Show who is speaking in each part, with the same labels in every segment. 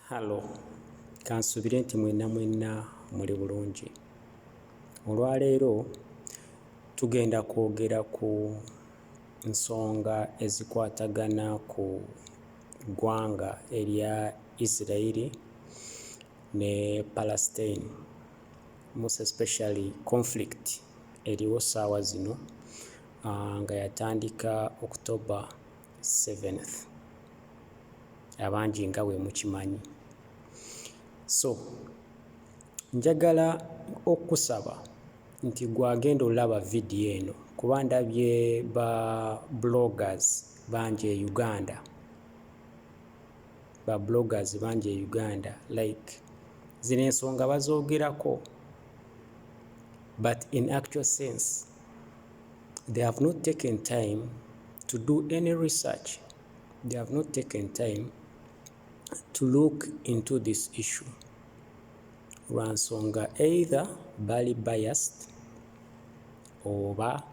Speaker 1: halo kansubire nti mwenna mwenna muli bulungi olwaleero tugenda kwogera ku nsonga ezikwatagana ku ggwanga erya israeli ne palestine most especially conflict eriwo saawa zino ah, nga yatandika october 7th abangi nga bwe mukimanyi so njagala okukusaba nti gwagenda olaba vidiyo eno kuba ndabye ba bloggers bangi e uganda ba bloggers bangi e uganda like zino ensonga bazoogerako but in actual sense they have not taken time to do any research they have not taken time to look into this issue lwa nsonga either bali biased oba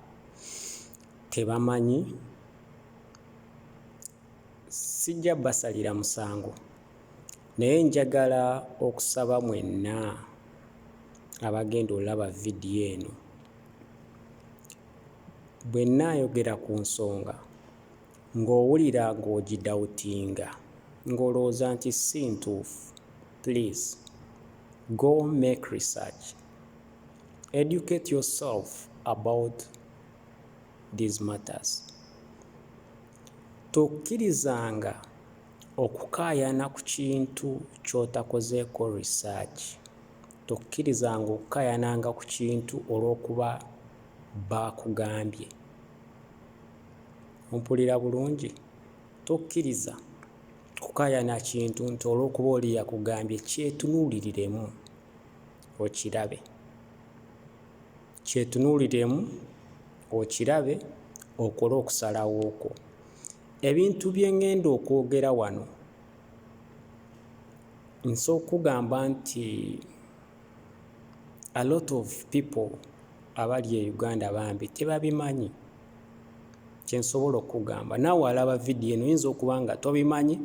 Speaker 1: tebamanyi sijja basalira musango naye njagala okusaba mwenna abagenda olaba vidiyo eno bwe nnaayogera ku nsonga Ng'owulira ng'ogidawutinga, ng'olowooza nti si ntuufu, please go make research, educate yourself about these matters. Tokkirizanga okukaayana ku kintu ky'otakozeeko research. Tokkirizanga okukaayananga ku kintu olw'okuba baakugambye. Mpulira bulungi? Tokkiriza kukaayana kintu nti olw'okuba oli yakugambye. Kyetunuuliriremu okirabe. Kyetunuuliriremu okirabe okole okusalawo kwo. Ebintu bye ŋŋenda okwogera wano nsooka kukugamba nti. a lot of people abali e uganda bambi tebabimanyi kyensobola okugamba nawe alaba vidiyo eno yinza okuba nga tobimanyi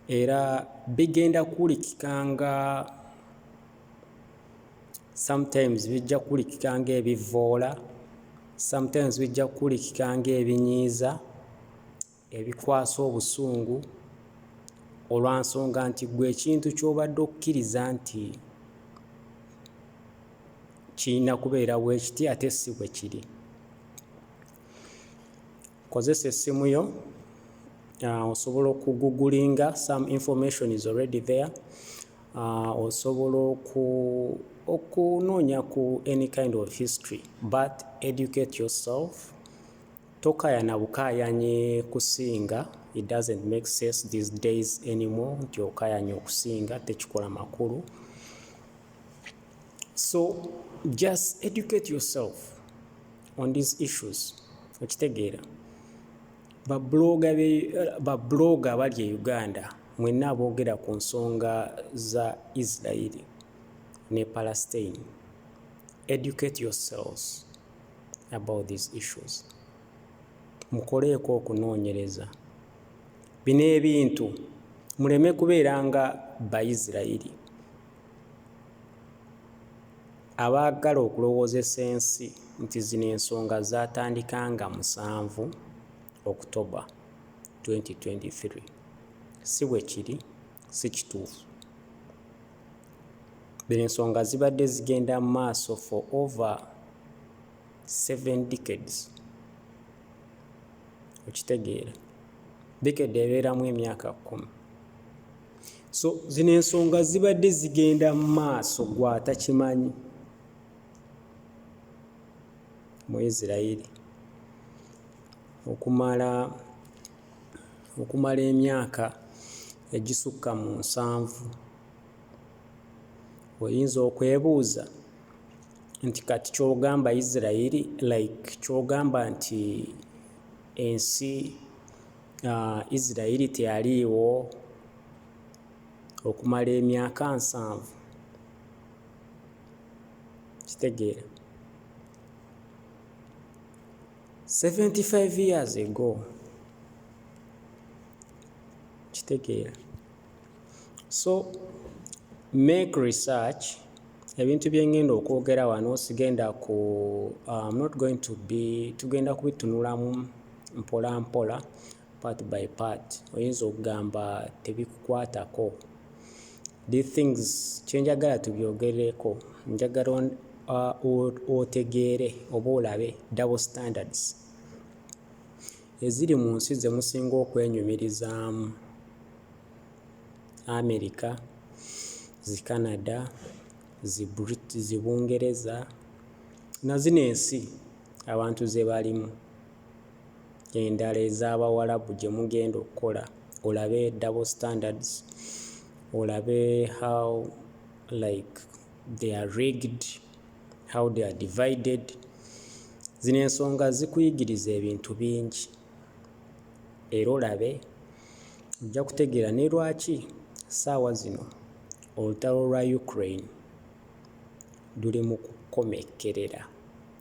Speaker 1: era bigenda kuwulikika nga sometimes bijja kuwulikika nga ebivoola sometimes bijja kuwulikika nga ebinyiiza ebikwasa obusungu olwa nsonga nti ggwe ekintu ky'obadde okkiriza nti kirina kubeera bwe kiti ate si bwe kiri kozesa essimu yo uh, osobola okugugulinga some information is already there uh, osobola oku okunoonya ku any kind of history but educate yourself Tokayana bukayanyi kusinga it doesn't make sense these days anymore nti okayanya okusinga tekikola makulu so just educate yourself on these issues okitegeera babloga abali e uganda mwenna aboogera ku nsonga za israeli ne palestine educate yourselves about these issues mukoleeko okunoonyereza bino ebintu muleme kubeera nga bayisirayiri abaagala okulowoozesa ensi nti zino ensonga zaatandika nga musanvu october 2023 si bwe kiri si kituufu. Bino ensonga zibadde zigenda mu maaso for over seven decades. Okitegeera? Decade ebeeramu emyaka kkumi. So zino ensonga zibadde zigenda mu maaso gw'atakimanyi mu Isiraeri okumala okumala emyaka egisukka mu nsanvu. Oyinza okwebuuza nti kati ky'ogamba Isiraeri like ky'ogamba nti ensi uh, Isiraeri teyaliiwo okumala emyaka nsanvu? Kitegeera. 75 years ago kitegeera so make research ebintu byengenda okwogera wano sigenda ku um, not going to be tugenda kubitunulamu mpola mpola part by part oyinza okugamba tebikukwatako these things kyenjagala tubyogereko njagala uh, otegeere oba olabe double standards eziri mu nsi ze musinga okwenyumirizaamu america zi canada zi brit zi bungereza na zino ensi abantu ze balimu endala ez'abawalabu gye mugenda okukola olabe double standards olabe how like they are rigged how they are divided zino ensonga zikuyigiriza ebintu bingi era olabe ojja kutegeera ne lwaki ssaawa zino olutalo lwa Ukraine luli mu kukomekkerera,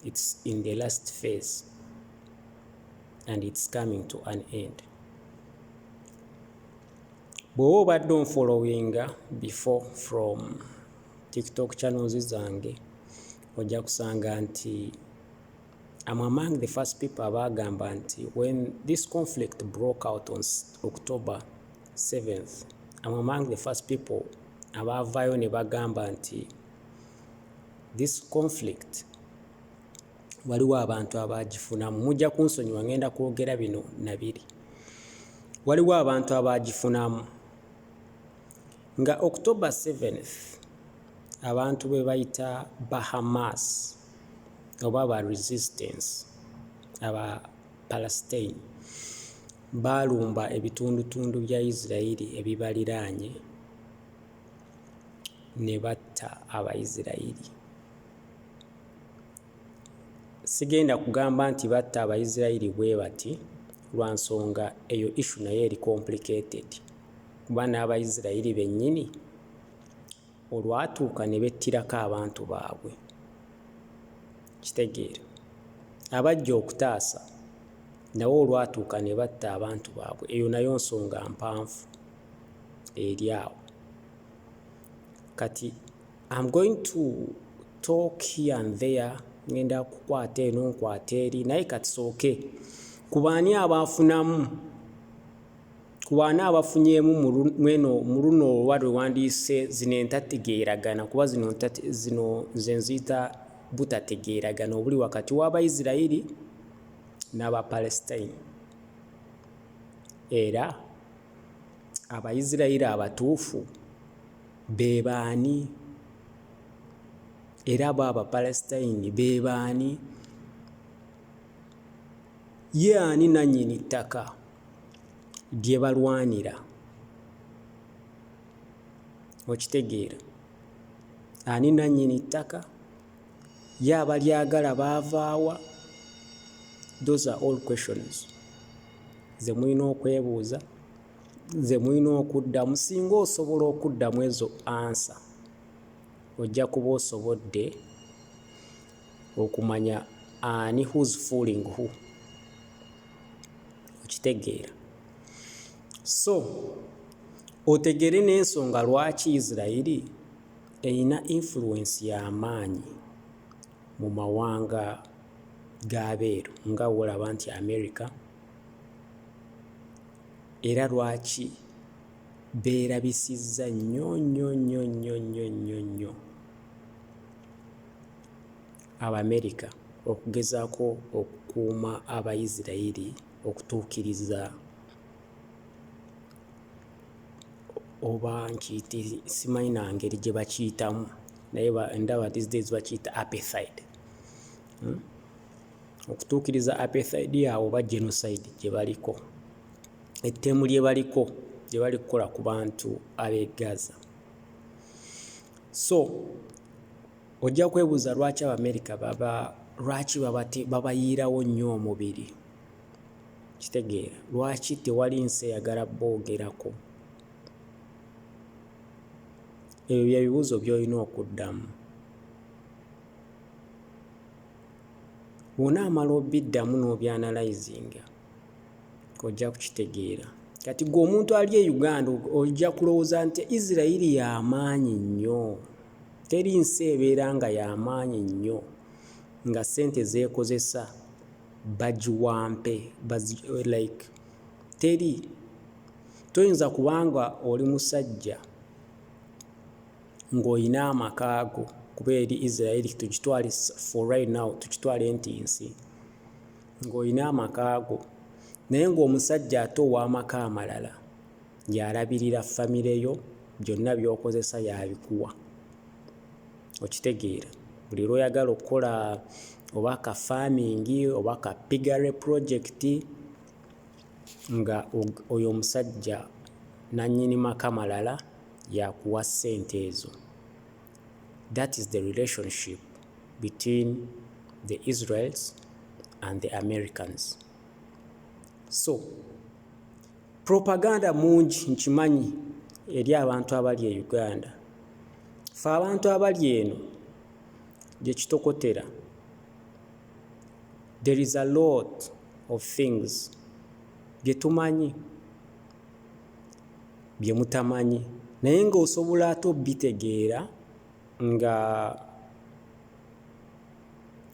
Speaker 1: it's in the last phase and it's coming to an end. Bw'oba obadde onfollowinga before from TikTok channels zange ojja kusanga nti I'm among the first people abaagamba nti when this conflict broke out on October Seventh, I'm among the first people abaavaayo ne bagamba nti this conflict waliwo abantu abaagifunamu mujja kunsonyiwa ngenda kwogera bino nabiri waliwo abantu abaagifunamu nga october 7th abantu be bayita bahamas oba ba resistance aba palestine Baalumba ebitundutundu bya Isirayiri ebibaliraanye ne batta Abayisirayiri. Sigenda kugamba nti batta Abayisirayiri bwe bati lwa nsonga eyo issue nayo eri complicated kuba n'Abayisirayiri bennyini olwatuuka ne bettirako abantu baabwe, okitegeera, abajja okutaasa nabo olwatuuka ne batta abantu baabwe, eyo nayo nsonga mpanvu eri awo. Kati am going to talk here and there, ngenda kukwata eno nkwata eri naye kati sooke ku baani abaafunamu. ku baana abafunyeemu mweno muluno oba lwe wandiyise zino entategeeragana kuba zino zino nze nziyita butategeeragana obuli wakati w'abaisirairi n'abapalestine era abaisirairi abatuufu be baani era bo abapalestine be baani ye ani nannyini ttaka lye balwanira. Okitegeera? Ani nannyini ttaka? Ye abalyagala baava wa? Those are all questions ze mulina okwebuuza, ze mulina okuddamu. Singa osobola okuddamu ezo ansa, ojja kuba osobodde okumanya ani who's fooling who okitegeera so otegere n'ensonga lwaki isirairi erina influence y'amaanyi mu mawanga g'abeeru nga wolaba nti america era lwaki beerabisizza nnyo nnyo nnyo nnyo nnyo nnyo nnyo Abamerika okugezaako okukuuma Abayisirayiri okutuukiriza oba nkiyite simanyi na ngeri gye bakiyitamu naye ndaba these days bakiyita apethide hmm? okutuukiriza apethide yaabwe oba genocide gye baliko ettemu lye baliko gye bali kukola ku bantu ab'e Gaza. So ojja kwebuuza lwaki Abamerika baba lwaki babayiirawo nnyo omubiri. Kitegeera lwaki tewali nsi eyagala boogerako. Ebyo bye bibuuzo by'olina okuddamu. Bw'onaamala obiddamu n'obyanalayizinga. ojja kukitegeera kati gwe omuntu ali e uganda ojja kulowooza nti isirairi yamaanyi nnyo teri nsi ebeera nga yamaanyi nnyo nga sente zeekozesa bagiwampe like teri toyinza kubanga oli musajja ng'olina amakaago kuba eri isirairi tukitwale for right now tukitwale nti nsi ng'olina amaka go naye ng'omusajja ate ow'amaka amalala y'alabirira famire yo, byonna by'okozesa y'abikuwa. Okitegeera? Buli lw'oyagala okukola oba ka faamingi oba ka piggery project nga oyo omusajja nnannyini maka malala y'akuwa ssente ezo. That is the relationship between the Israels and the Americans. So, propaganda mungi nkimanyi eri abantu abali e Uganda. Fe abantu abali eno gye kitokotera. There is a lot of things bye tumanyi. bye mutamanyi naye ng'osobola ate obitegeera nga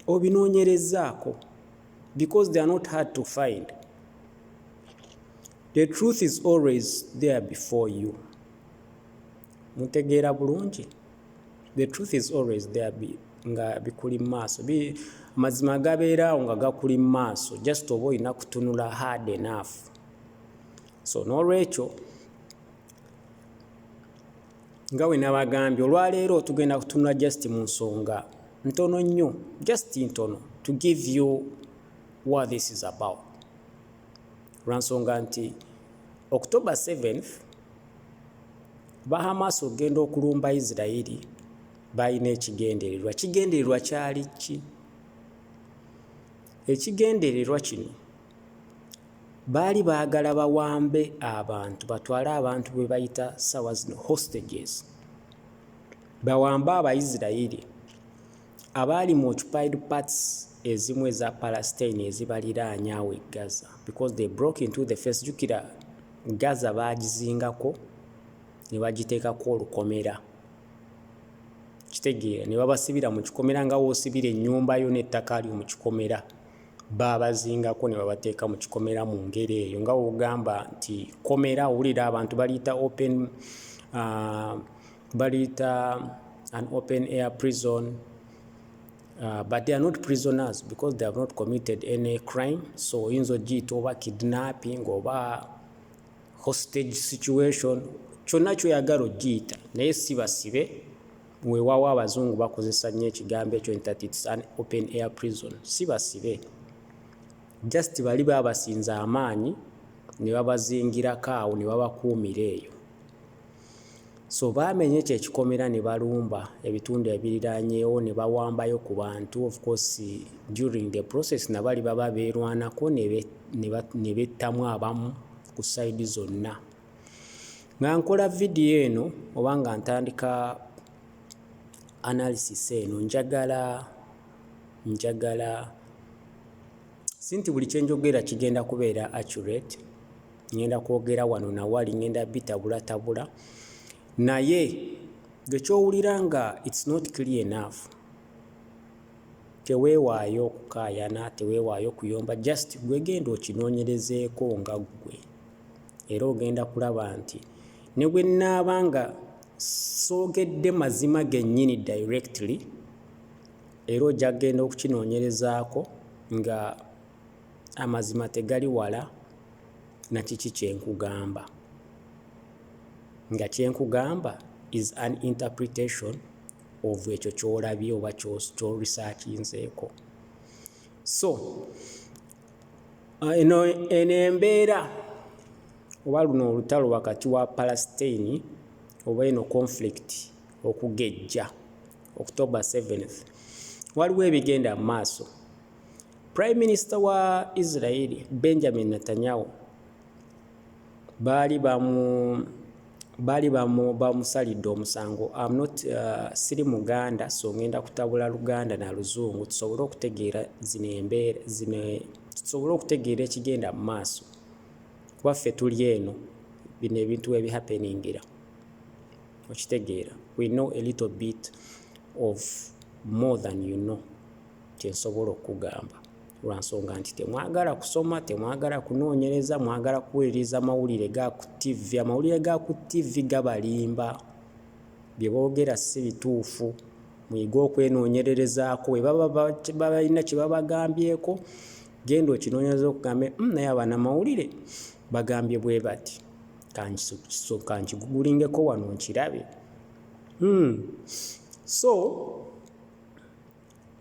Speaker 1: obinoonyerezzaako because they are not hard to find the truth is always there before you mutegeera bulungi the truth is always there be, nga bikuli mu maaso amazima agabeeraawo nga gakuli mu maaso just oba olina kutunula hard enough so n'olwekyo nga we nabagambye olwaleero tugenda kutunula just mu nsonga ntono nnyo just ntono to give you what this is about lwansonga nti october 7 bahamas okugenda okulumba isirairi balina ekigendererwa kigendererwa kyali ki ekigendererwa kino Baali baagala bawambe abantu batwale abantu be bayita ssaawa zino hostages, bawambe Abaisiraeri abaali mu occupied parts ezimu eza Palestine ezibaliraanye awo e Gaza because they broke into the face. Jjukira Gaza baagizingako ne bagiteekako olukomera, kitegeera ne babasibira mu kikomera nga w'osibira ennyumba yo n'ettaka lyo mu kikomera. babazingako ne babateeka mu kikomera mu ngeri eyo nga wogamba nti komera owulira abantu baliyita open uh, baliyita an open air prison Uh, but they are not prisoners because they have not committed any crime so oyinza ogiyita oba kidnapping oba hostage situation kyonna kyoyagala ogiyita naye sibasibe Wewawo abazungu bakozesa nnyo ekigambo ekyo nti that it's an open air prison si basibe just bali babasinza amaanyi ne babazingirako awo ne babakuumira eyo so baamenye ekyo ekikomera ne balumba ebitundu ebiriranyeewo ne bawambayo ku bantu of course during the process nabali baba beerwanako ne bettamu abamu ku sayidi zonna nga nkola vidiyo eno oba nga ntandika analysis eno njagala njagala si nti buli kye njogera kigenda kubeera accurate ngenda kwogera wano nawali ngenda bitabulatabula naye gekyowulira nga its not clear enough teweewaayo okukaayana teweewaayo okuyomba just gwegenda okinoonyerezeeko nga ggwe Era ogenda kulaba nti ne bwe nnaaba nga soogedde mazima gennyini directly, era ojja kugenda okukinoonyerezaako nga amazima tegali wala na kiki kye nkugamba. Nga kye nkugamba is an interpretation of ekyo ky'olabye oba ky'o-researchinzeeko. So, eno eno embeera oba luno olutalo wakati wa palastine oba eno conflict okugejja october 7th waliwo ebigenda mu maaso prime minister wa israeli benjamin netanyahu baali bamu baali bamusalidde omusango am not uh, siri muganda so ngenda kutabula luganda na luzungu tusobole okutegeera zino embeera zino tusobole okutegeera ekigenda mu maaso kuba ffe tuli eno bino ebintu ebihappeningira okitegeera we know a little bit of more than you know kye nsobola okugamba lwa nsonga nti temwagala kusoma temwagala kunoonyereza mwagala kuwuliriza mawulire ga ku ttivvi amawulire ga ku ttivvi gabalimba bye boogera si bituufu muyige okwenoonyererezaako bwe baba balina kye babagambyeko genda okinoonyereza okugambe hmm, naye abaana mawulire bagambye bwe bati kankigugulingeko wano nkirabe hmm. so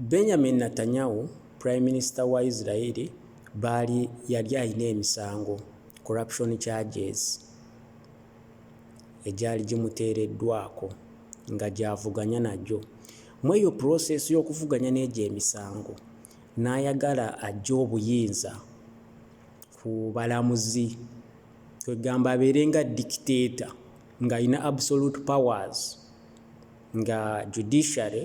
Speaker 1: Benjamin Natanyahu, Prime Minister wa Israel baali yali alina emisango, corruption charges, egyali gimuteereddwako nga gy'avuganya nagyo. Mu eyo process y'okuvuganya n'egyo emisango n'ayagala aggye obuyinza ku balamuzi kwegamba abeere nga dictator ng'alina absolute powers nga judiciary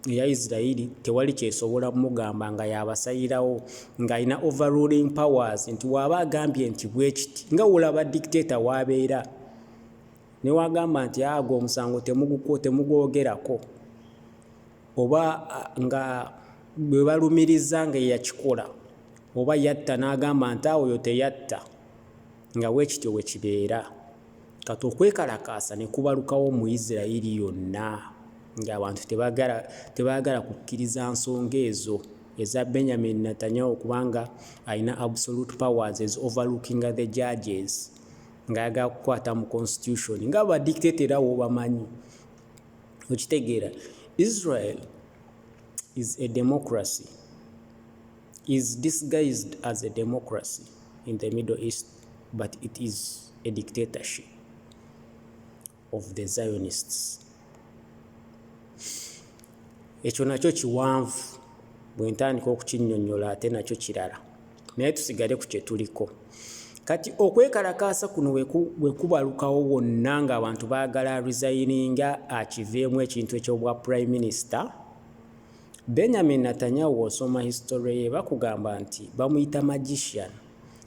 Speaker 1: eya Isiraeri tewali kyesobola mugamba nga yabasalirawo nga alina overruling powers nti waaba agambye nti bwekiti nga wolaba dictator wabeera newagamba nti ago ah, omusango temugwogerako oba ah, nga bwebalumiriza nga eyakikola oba yatta nagamba nti awo yo teyatta nga bwekityo bwekibeera Kati okwekalakaasa ne kubalukawo mu Isiraeri yonna ng'abantu tebaagala kukkiriza nsonga ezo eza Benjamin Netanyahu kubanga alina absolute powers as overlooking the judges ng'ayagala kukwata mu constitution nga ba dictator era w'obamanyi okitegeera Israel is a democracy is disguised as a democracy in the Middle East but it is a dictatorship of the Zionists. Ekyo nakyo kiwanvu bwe ntandika okukinnyonnyola ate nakyo kirala naye tusigale ku kye tuliko kati okwekalakaasa kuno bwe kubalukawo wonna ng'abantu baagala resayininga akiveemu ekintu eky'obwa prime minisita benyamin natanyahu osoma history ye bakugamba nti bamuyita magician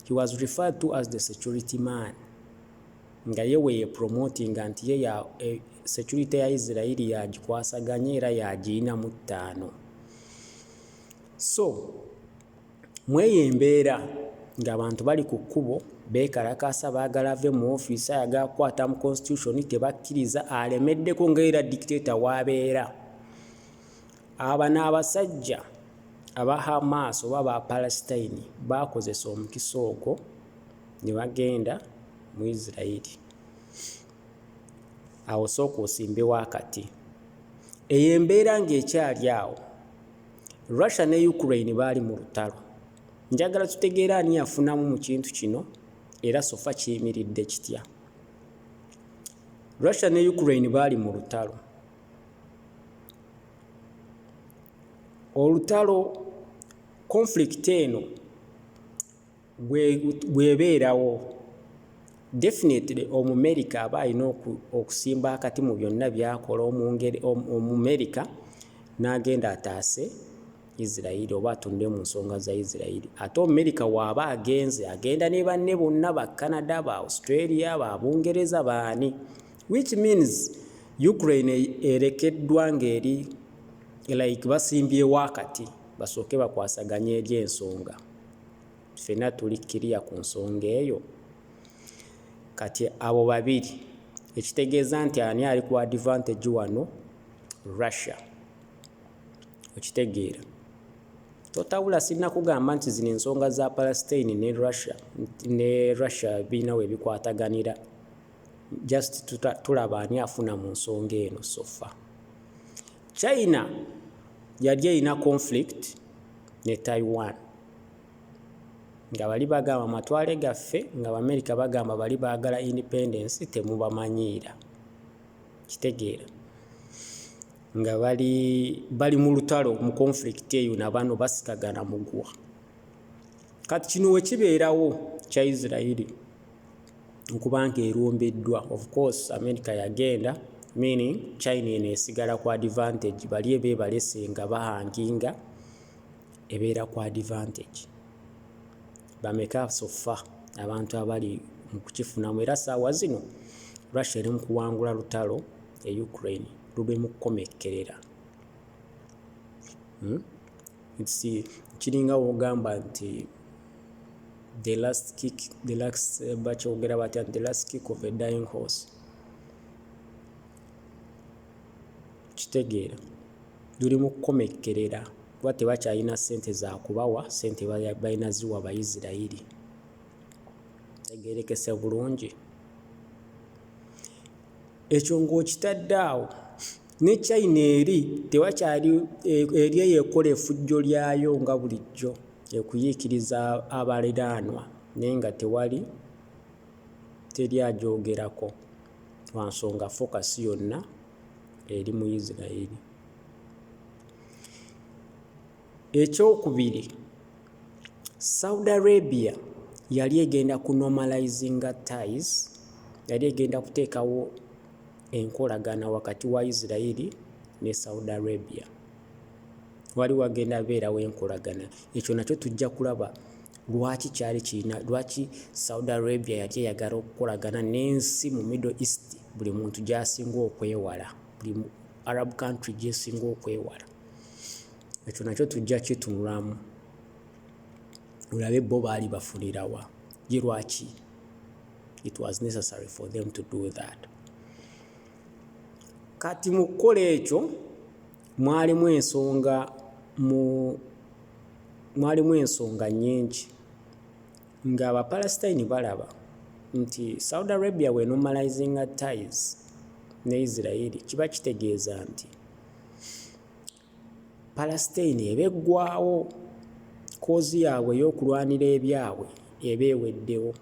Speaker 1: He was referred to as the security man nga ye weye promotinga nti ye ya eh, security ya Israeli yagikwasaganya era yagiyina mu ttaano so mweyo embeera ng'abantu bali ku kkubo beekalakaasa baagala ave mu ofiisi ayaga kukwata mu constitution tebakkiriza alemeddeko ngaera dictato waabeera Abano abasajja aba Hamas oba aba Palestine baakozesa omukisa ogwo ne bagenda mu Israel. Awo sooka osimbewo akati. Eyo embeera ng'ekyali awo, Russia ne Ukraine baali mu lutalo. Njagala tutegeere ani yafunamu mu kintu kino era sofa kiyimiridde kitya. Russia ne Ukraine baali mu lutalo. olutalo conflict eno bwebeerawo definitely omumerika aba alina okusimba akati mu byonna byakola omungeri omumerika n'agenda ataase isirairi oba atunde mu nsonga za isirairi ate omumerika waaba agenze agenda ne banne bonna ba canada ba australia ba bungereza baani which means ukraine erekeddwa ngeri like basimbyewo akati basooke bakwasaganye eri ensonga ffena tuli kiriya ku nsonga eyo kati abo babiri ekitegeeza nti ani ali ku advantage wano russia okitegeera totabula sirina kugamba nti zino ensonga za palestine ne russia ne russia birina webikwataganira just tuta, tulaba ani afuna mu nsonga eno sofa china yali erina conflict ne taiwan nga bali bagamba matwale gaffe nga baamerika bagamba bali baagala independence temubamanyiira kitegeera nga bali bali mu lutalo mu conflict eyo nabano basikagana mugwa kati kino wekibeerawo kya isirairi okuba nti erumbiddwa of course America yagenda meaning China eno esigala ku advantage bali ebebalese nga bahanginga ebeera ku advantage bameka so far abantu abali mu kukifunamu era saawa zino Russia eri mu kuwangula lutalo e Ukraine lube mu kukomekkerera hmm? kiringa wogamba nti the last kick the last eh, bakyogera batya the last kick of a dying horse kitegeera luli mu kukomekkerera kuba tebakyalina sente zakubawa sente balina ziwa baisirairi tegerekese bulungi ekyo ngaokitadde awo Ne China eri tewakyali eri eyo ekola efujjo lyayo nga bulijjo ekuyiikiriza abaliraanwa naye nga tewali teri agyogerako lwa nsonga focus yonna eri mu Israel. Ekyokubiri, Saudi Arabia yali egenda ku normalizinga ties, yali egenda kuteekawo enkolagana wakati wa Yisirayiri ne Saudi Arabia. Wali wagenda beerawo enkolagana. Ekyo nakyo tujja kulaba lwaki kyali kirina lwaki Saudi Arabia yali eyagala okukolagana n'ensi mu Middle East buli muntu gy'asinga okwewala, buli Arab country gy'esinga okwewala. Ekyo nakyo tujja kitunulamu olabe bo baali bafunirawa ye lwaki it was necessary for them to do that kati mu kukola ekyo mwalimu ensonga mu mwalimu ensonga nyingi nga abapalestine balaba nti saudi arabia we normalizinga ties ne israeli kiba kitegeeza nti palasiteini eba eggwawo koozi yaabwe ey'okulwanira ebyabwe eba eweddewo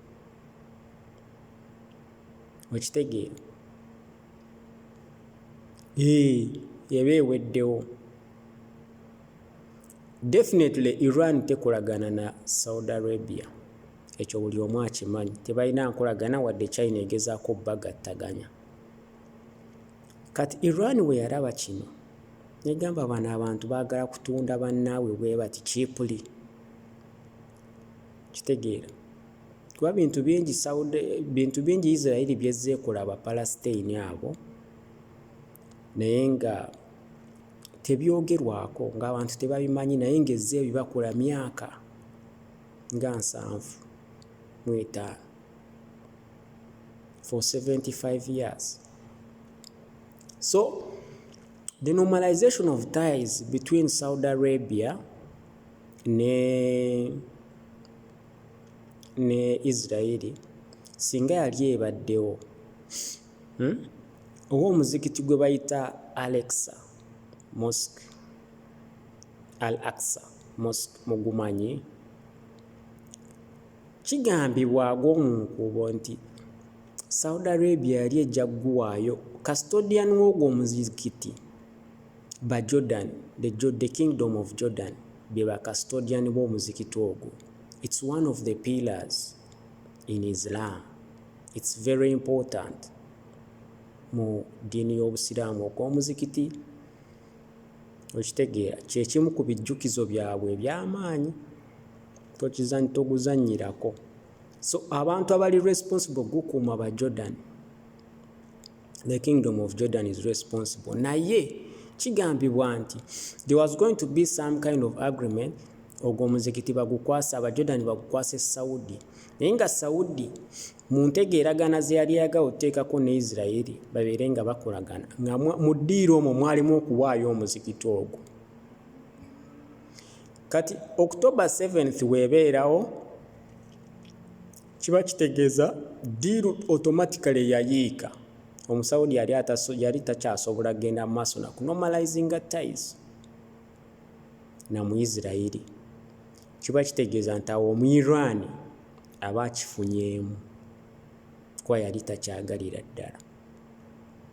Speaker 1: okitegeera eba eweddewo definitely iran tekolagana na saudi arabia ekyo buli omu akimanyi tebalina nkolagana wadde china egezaako bagattaganya kati iran bwe yalaba kino negamba bano abantu bagala kutunda bannaabwe bwebati kipuli kitegeera kuba bintu bingi saudi bintu bingi isirairi byezze ekola abapalasitaini abo naye nga tebyogerwako ng'abantu tebabimanyi naye ng'ezze ebibakola myaka nga nsanvu mu etaano for 75 years So the normalization of ties between Saudi Arabia ne ne Israeli singa yali ebaddewo hmm? oba omuzikiti gwe bayita Alexa Mosque Al Aqsa Mosque mugumanyi Kigambibwa ag'omunkuubo nti Saudi Arabia yali ejja kuguwaayo custodian w'ogwo omuzikiti ba Jordan, the kingdom of Jordan be ba custodian b'omuzikiti ogwo, it's one of the pillars in Islam, it's very important mu ddiini y'obusiraamu ogw'omuzikiti okitegeera kye kimu ku bijjukizo byabwe eby'amaanyi. toguzanyirako so abantu abali responsible gukuuma ba jordan the kingdom of jordan is responsible naye kigambibwa nti there was going to be some kind of agreement ogwo omuzikiti bagukwasa abajordan bagukwasa esaudi naye nga saudi mu ntegeeragana ze yali yagawo oteekako ne isiraeri babeere nga bakolagana nga mu ddiiro omwo mwalimu okuwaayo omuzikiti ogwo kati october 7th webeerawo kiba kitegeeza diiru automatically yayiika omusawudi yali yali takyasobola kugenda mu maaso nakunomalizinga tis namuisirairi kiba kitegeeza nti awo omuirani aba akifunyeemu kuba yali takyagalira ddala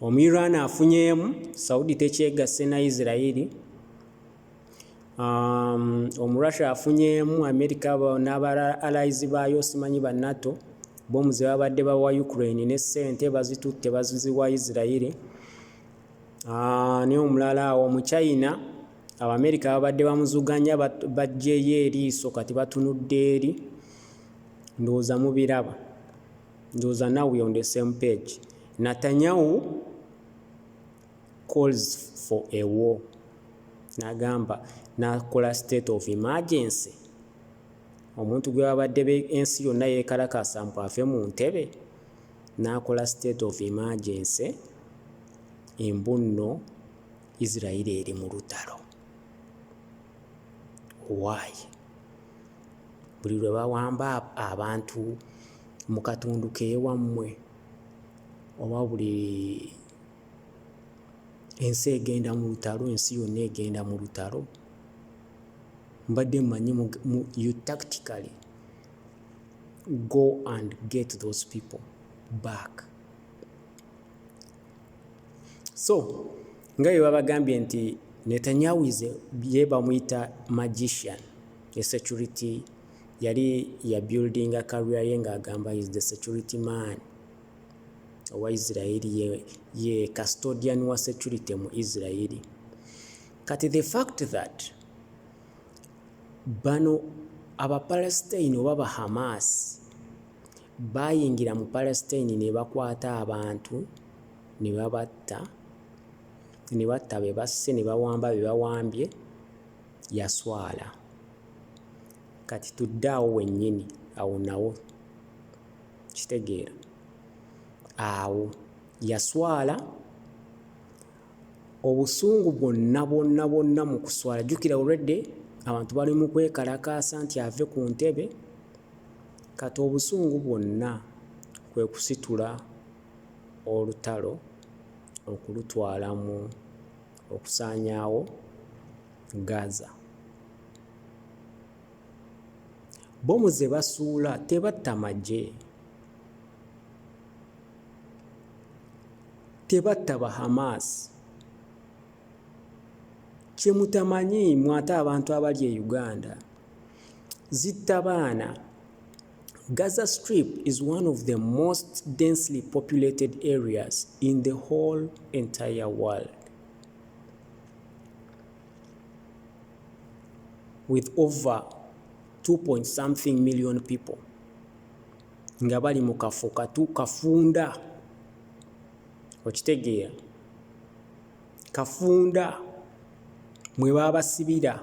Speaker 1: omuyirwana afunyeemu saudi tekyegasse na isirairi um, omurussia afunyeemu amerika n'aba allies baayo simanyi ba nato bomu ze babadde bawa ukraine ne ssente bazitutte baziwa isirairi uh, naye omulala awo mu china abamerika babadde bamuzuganya bajjeyo eriiso kati batunudde eri ndowooza mubiraba Ndowoza now we on the same page. Natanyahu calls for a war. Nagamba nakola state of emergency. Omuntu gwe babadde be ensi yonna yekalakasa mbu ave mu ntebe nakola state of emergency embunno Israel eri mu lutalo. Why? buli lwe bawamba abantu mu katundu k'ewammwe oba buli ensi egenda mu lutalo ensi yonna egenda mu lutalo mbadde mmanyi you tactically go and get those people back. so nga bwe babagambye nti netanyahu ize ye bamuyita magician e security yali ya building a career ye ng'agamba is the security man owa israeli ye, ye custodian wa security mu israeli kati the fact that bano abapalestine oba bahamas Baayingira mu Palesitine ne bakwata abantu ne babatta, ne batta be basse ne bawamba be bawambye, yaswala. Kati tudde awo wennyini, awo nawo. Kitegeera? Awo yaswala obusungu bwonna bwonna bwonna mu kuswala jjukira already abantu bali mu kwekalakaasa nti ave ku ntebe Kati obusungu bwonna kwe kusitula olutalo okulutwala mu okusaanyaawo Gaza. Bbomu ze basuula tebatta magye, tebatta ba Hamas. Kye mutamanyi mwe ate abantu abali e Uganda. zittabaana gaza strip is one of the most densely populated areas in the whole entire world with over 2 point something million people nga bali mu kafo katu kafunda okitegeera kafunda mwe baabasibira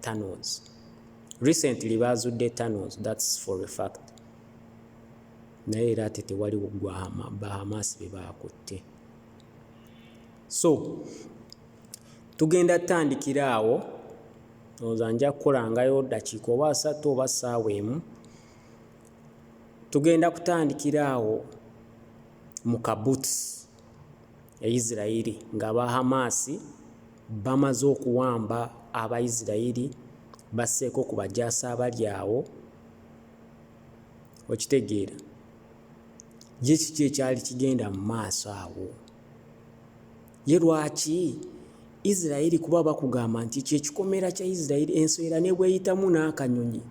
Speaker 1: tunnels recently baazudde tunnels that's for a fact naye era ate tewali gwahama bahamas be baakutte so tugenda tutandikira awo oza nja kukolangayo dakiika oba asatu oba saawa emu tugenda kutandikira awo mu kabuts e Isiraeri ng'aba Hamaasi bamaze okuwamba Abaisiraeri basseeko ku bajaasi abali awo, okitegeera, ye kiki ekyali kigenda mu maaso awo? Ye lwaki Isiraeri kuba bakugamba nti kyekikomera kya Isiraeri enswera ne bweyitamu n'akanyonyi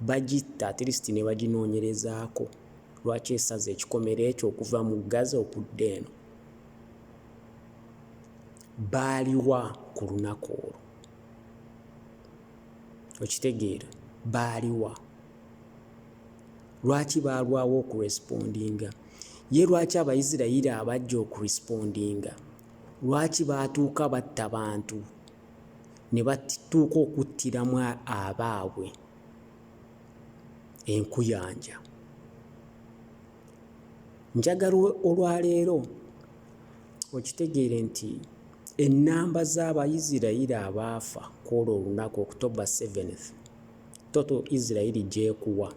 Speaker 1: bagitta atirisiti ne baginoonyerezaako. Lwaki esaze ekikomera ekyo okuva mu Gaza okudda eno? Baaliwa ku lunaku olwo? Okitegeera? Baaliwa? Lwaki baalwawo okurespondinga? Ye lwaki Abaisirairi abajja okurespondinga? Lwaki baatuuka batta bantu ne batuuka okuttiramu abaabwe? enkuyanja njagala olwaleero okitegeere nti ennamba z'abaisirairi abaafa ku olwo olunaku october 7 toto isirairi gyekuwa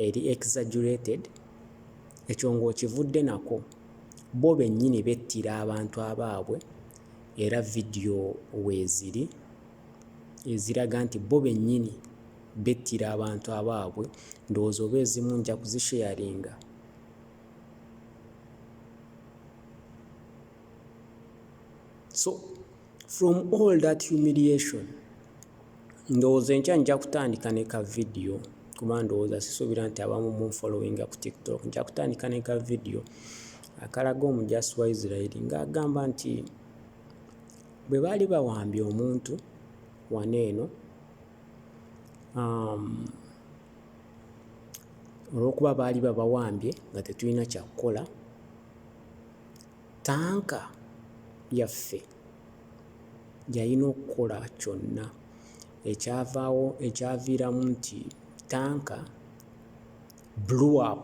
Speaker 1: eri exaggerated ekyo ng'okivudde nako bo bennyini bettira abantu abaabwe era vidiyo weeziri eziraga nti bo bennyini bettira abantu abaabwe ndowooza oba ezimu nja kuzisheyaringa so from all that humiliation ndowooza enkya nja kutandika ne ka vidiyo kuba ndowooza sisuubira nti abamu munfollowinga ku tiktok nja kutandika ne ka vidiyo akalaga omujasi wa isirairi ng'agamba nti Bwe baali bawambye omuntu wano eno um, olw'okuba baali babawambye nga tetulina kyakukola tanka yaffe yalina okukola kyonna ekyavaawo ekyaviiramu nti tanka blew up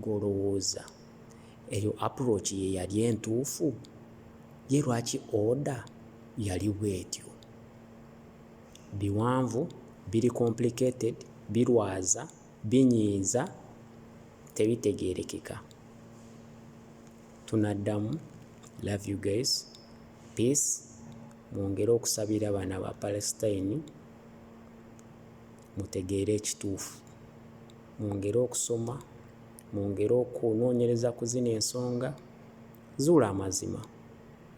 Speaker 1: Gwe olowooza eyo approach ye yali entuufu? Ye lwaki order yali bwetyo? Biwanvu, biri complicated, birwaza, binyiiza, tebitegerekeka. Tunaddamu, love you guys, peace, mwongere okusabira bana ba Palestine mutegeere ekituufu. Mwongere okusoma, mwongere okunoonyereza ku zino ensonga, zuula amazima.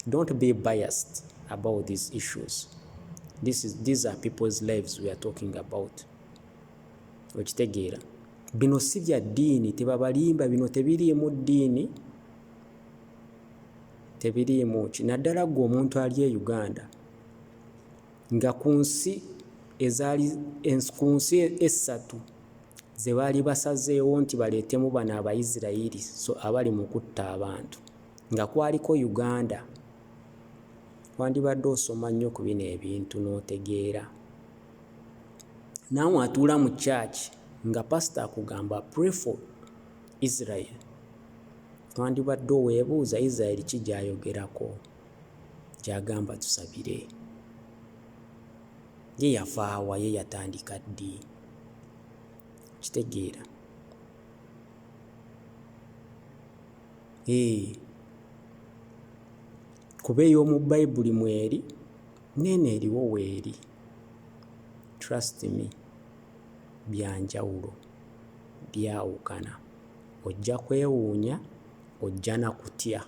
Speaker 1: Don't be biased about these issues. This is, these are people's lives we are talking about. Okitegeera? Bino si bya ddiini, tebabalimba, bino tebiriimu ddiini, tebiriimu ki. Naddala gwe omuntu ali e Uganda, Nga ku nsi ezaali, ens, ku nsi essatu ze baali basazeewo nti baleetemu bano Abayisirayiri so abali mu kutta abantu, nga kwaliko Uganda. Wandibadde osoma nnyo ku bino ebintu n'otegeera. Naawe atuula mu church nga pastor akugamba pray for Israel. Wandibadde oweebuuza Israel ki gy'ayogerako? gy'agamba tusabire. Ye yava wa? Ye yatandika ddi? Okitegeera? Ee, kuba ey'omu Bayibuli mweri, n'eno eriwo weeri. Trust me, bya njawulo, byawukana. Ojja kwewuunya, ojja na kutya.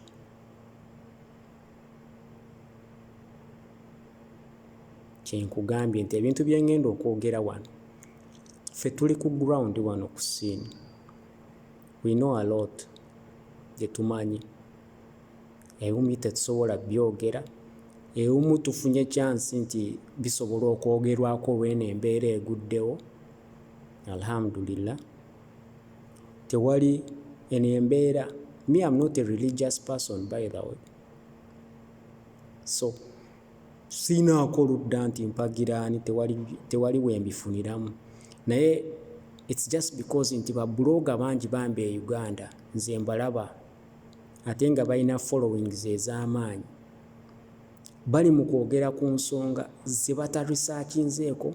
Speaker 1: kyenkugambye nti ebintu bye ngenda okwogera wano ffe tuli ku ground wano ku scene we know a lot gye tumanyi ebimu tetusobola byogera ebimu tufunye kyansi nti bisobola okwogerwako olw'eno embeera eguddewo alhamdulillah tewali eno embeera me am not a religious person by the way so siinaako ludda nti mpagira ani tewali, tewali wembifuniramu naye it's just because nti babuloga bangi bambi e uganda nze mbalaba ate nga balina followings ez'amaanyi bali mu kwogera ku nsonga ze batarisakinzeeko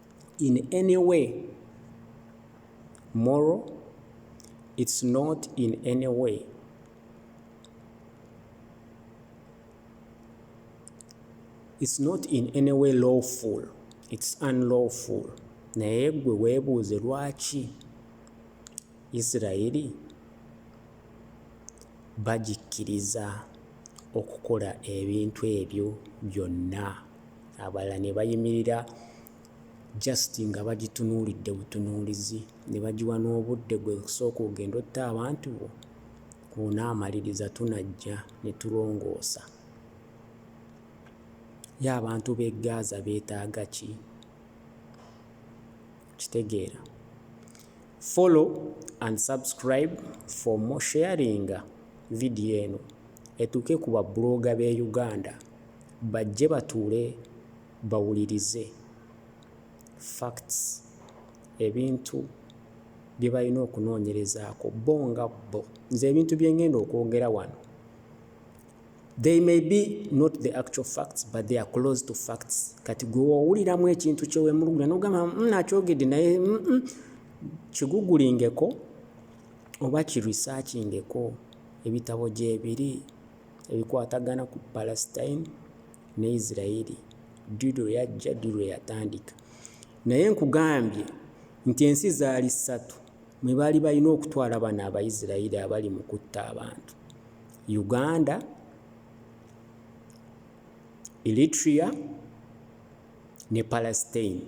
Speaker 1: in any way moral it's not in any way it's not in any way lawful it's unlawful naye gwe weebuuze lwaki isirayiri bagikkiriza okukola ebintu ebyo byonna abalala nebayimirira just nga bagitunuulidde butunuulizi ne bagiwa n'obudde gwe kusooka ogenda otta abantu bo bw'onaamaliriza tunajja ne tulongoosa ye abantu b'e Gaaza beetaaga ki kitegeera follow and subscribe for more sharing vidiyo eno etuuke ku babbulooga b'e Uganda Bajje batuule bawulirize facts, ebintu bye balina okunoonyerezaako bo nga bo. Nze ebintu bye ngenda okwogera wano, they may be not the actual facts but they are close to facts. Kati gwe wowuliramu ekintu kye wemulugunya n'ogamba mm, nakyogedde naye mm, mm, kigugulingeko oba kirisakingeko ebitabo gyebiri. ebikwatagana ku Palestine ne Israeli ddi lwe yajja, ddi lwe yatandika. Naye nkugambye nti ensi zaali ssatu mwe baali balina okutwala bano Abaisiraeri abali mu kutta abantu, Uganda, Eritrea ne Palestine.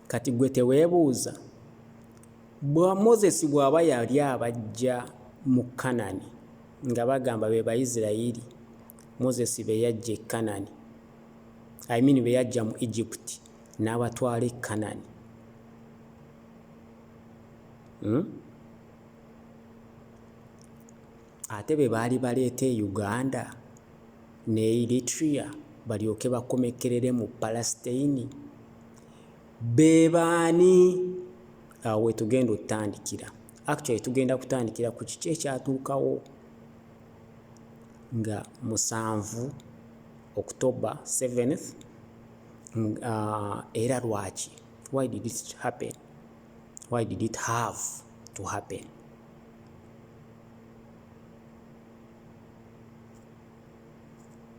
Speaker 1: Kati gwe teweebuuza? Bwa Moses bw'aba yali abaggya mu Kanani, nga bagamba be Baisiraeri Moses be yaggya e Kanani, I mean be yaggya mu Egypt n'abatwala e Kanani. Hmm? Ate be baali baleeta e Uganda ne Eritrea balyoke bakomekkerere mu Palestine. be baani awo wetugenda otandikira actually tugenda kutandikira ku kiki ekyatuukawo nga musanvu october 7th uh, era lwaki why did it happen why did it have to happen